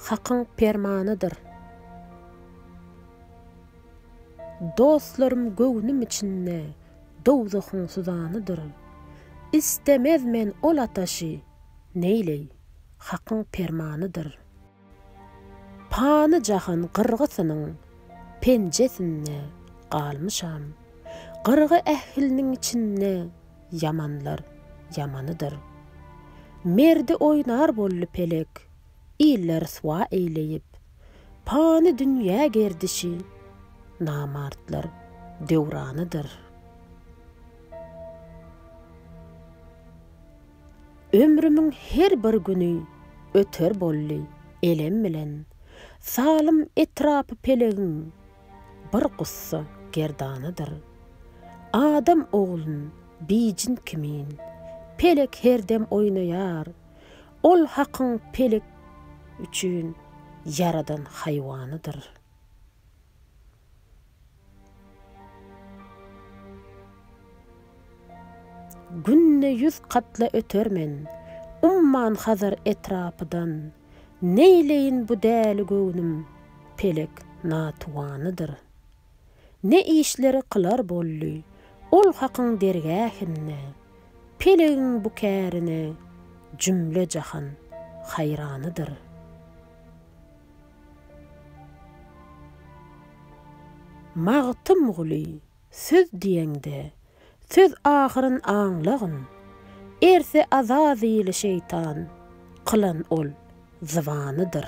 Hakyň permanydyr. Dostlarym göwnüm içinde dowzahyň suzanydyr. Istemez men ol ataşy, neýleý, Hakyň permanydyr. Pany jahan gyrgysynyň penjesinde galmyşam. Gyrgy ähliniň içinde ýamanlar ýamanydyr. Merdi oýnar boldy pelek, iller ryswa eýleýip. Pany dünýä gerdişi, namartlar döwranydyr. Ömrümiň her bir güni öter boldy elem bilen, Salym etrapy pelegiň bir gussa gerdanydyr. Adam oglun bijin kimin, pelek her dem oýnaýar, Ol Hakyň pelek üçin ýaradan haýwanydyr. Günde ýüz katla öter men, Umman Hazar etrapydan, Neýleýin bu däli göwnüm, Pelek natuwanydyr. Ne işleri kylar boldy, Ol Hakyň dergähinde, Pelegiň bu kärine, Jümle-jahan haýranydyr. Magtymguly, söz diýeňde, söz ahyryn aňlagyn, Erse Azazyly şeýtan, kylan ol zybanydyr.